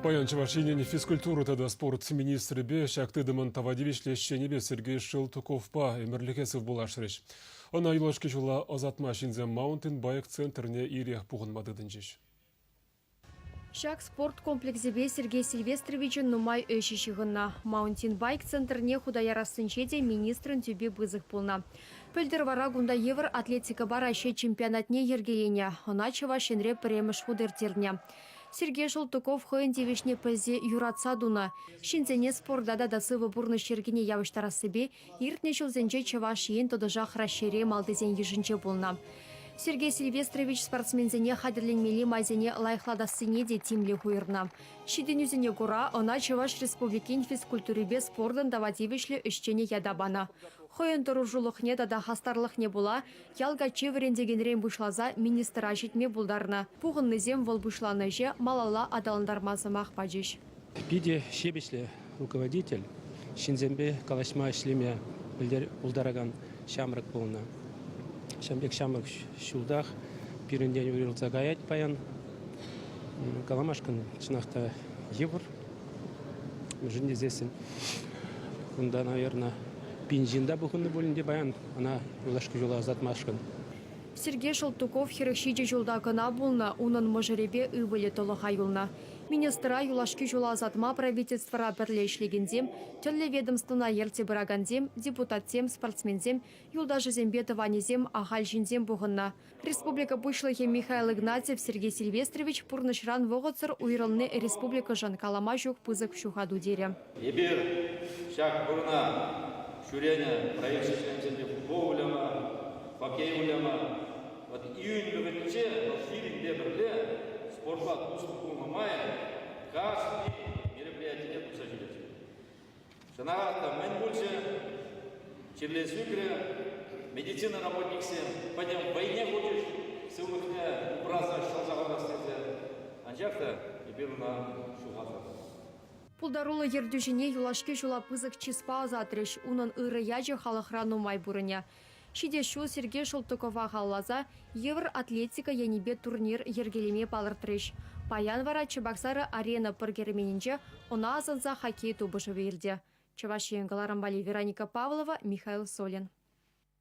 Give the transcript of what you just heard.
Паян Чӑваш Енӗн физкультура тата спорт министрӗпе ҫак тытӑмӑн тава тивӗҫлӗ ӗҫченӗпе Сергей Шелтуковпа ӗмӗрлӗхе сывпуллашрӗҫ. Ӑна юлашки ҫула ӑсатма ҫынсем маунтинбайк центрне ирех пухӑнма тытӑнчӗҫ. Ҫак спорт комплексӗпе Сергей Сильвестровичӑн нумай ӗҫӗ ҫыхӑннӑ. Маунтинбайк центрне хута ярассинче те министрӑн тӳпи пысӑк пулнӑ. Пӗлтӗр вара кунта евӗр атлетикӑпа Раҫҫей чемпионатне йӗркеленӗ. Ӑна Чӑваш Енре пӗрремӗш хут ирттернӗ. Сергей Шелтуков хӑйӗн тивӗҫне пӗлсе юратса тунӑ, ҫынсене спорта тата сывӑ пурнӑҫ йӗркине явӑҫтарассипе иртнӗ ҫулсенче Чӑваш Ен тӑтӑшах Раҫҫейре малтисен йышӗнче пулнӑ. Сергей Сильвестрович спортсменсене хатӗрленмелли майсене лайӑхлатассине те тимлӗх уйӑрнӑ. Ҫитӗнӳсене кура ӑна Чӑваш Республикин физкультурипе спортӑн тава тивӗҫлӗ ӗҫченӗ ята панӑ. Хӑйӗн тӑрӑшулӑхне тата хастарлӑхне пула Ял каччи вӗрентекенрен пуҫласа министра ҫитме пултарнӑ. Пухӑннисем вӑл пуҫланӑ ӗҫе малалла аталантарма сӑмах пачӗҫ. Питӗ ҫепӗҫлӗ руководитель, ҫынсемпе калаҫма ӗҫлеме пултаракан ҫамрӑк пулнӑ. Ҫавӑн пек ҫамрӑк ҫултах пирӗнтен уйрӑлса каять паян. Каламашкӑн чӑнах та йывӑр. Мӗншӗн тесессӗн кунта, наверное, пин ҫын та пухӑннӑ пулин те паян ӑна юлашки ҫула ӑсатмашкӑн. Сергей Шелтуков хӗрӗх ҫичӗ ҫулта кӑна пулнӑ. Унӑн мӑшӑрӗпе ывӑлӗ тӑлӑха юлнӑ. Министра юлашки ҫула ӑсатма правительствӑра пӗрле ӗҫлекенсем, тӗрлӗ ведомствӑна ертсе пыракансем, депутатсем, спортсменсем, юлташӗсемпе тӑванӗсем, ахаль ҫынсем пухӑннӑ. Республика Пуҫлӑхӗ Михаил Игнатьев Сергей Сильвестрович пурнӑҫран вӑхӑтсӑр уйрӑлни республикӑшӑн калама ҫук пысӑк ҫухату терӗ. Эпир ҫак вырӑна ҫӳренӗ проект членсемпе футбол выляма, хоккей выляма, вӑт июнь вӗҫӗнче вӑл пирӗнпе пӗрле спортпа туслӑ пулнӑ май кашни мероприятине тухса ҫӳрет. Шӑна та мӗн пулчӗ? Чирле сӳкрӗ. Медицина работниксем пӗтӗм вӑйне хучӗҫ, сывлӑхне упраса ҫӑлса хӑварас тесе. Анчах та эпир ӑна ҫухататӑп. Пултаруллӑ ертӳҫӗне юлашки ҫула пысӑк чыспа ӑсатрӗҫ. Унӑн ырӑ ячӗ халӑхра нумай пурӑнӗ. Ҫитес ҫул Сергей Шелтукова халласа йывӑр атлетика енӗпе турнир йӗркелеме палӑртрӗҫ. Паян вара Чебоксары Арена пӑр керменӗнче ӑна асӑнса хоккей тупӑшӑвӗ иртӗ. Чӑваш Ен кӑларӑмпали Вероника Павлова, Михаил Солин.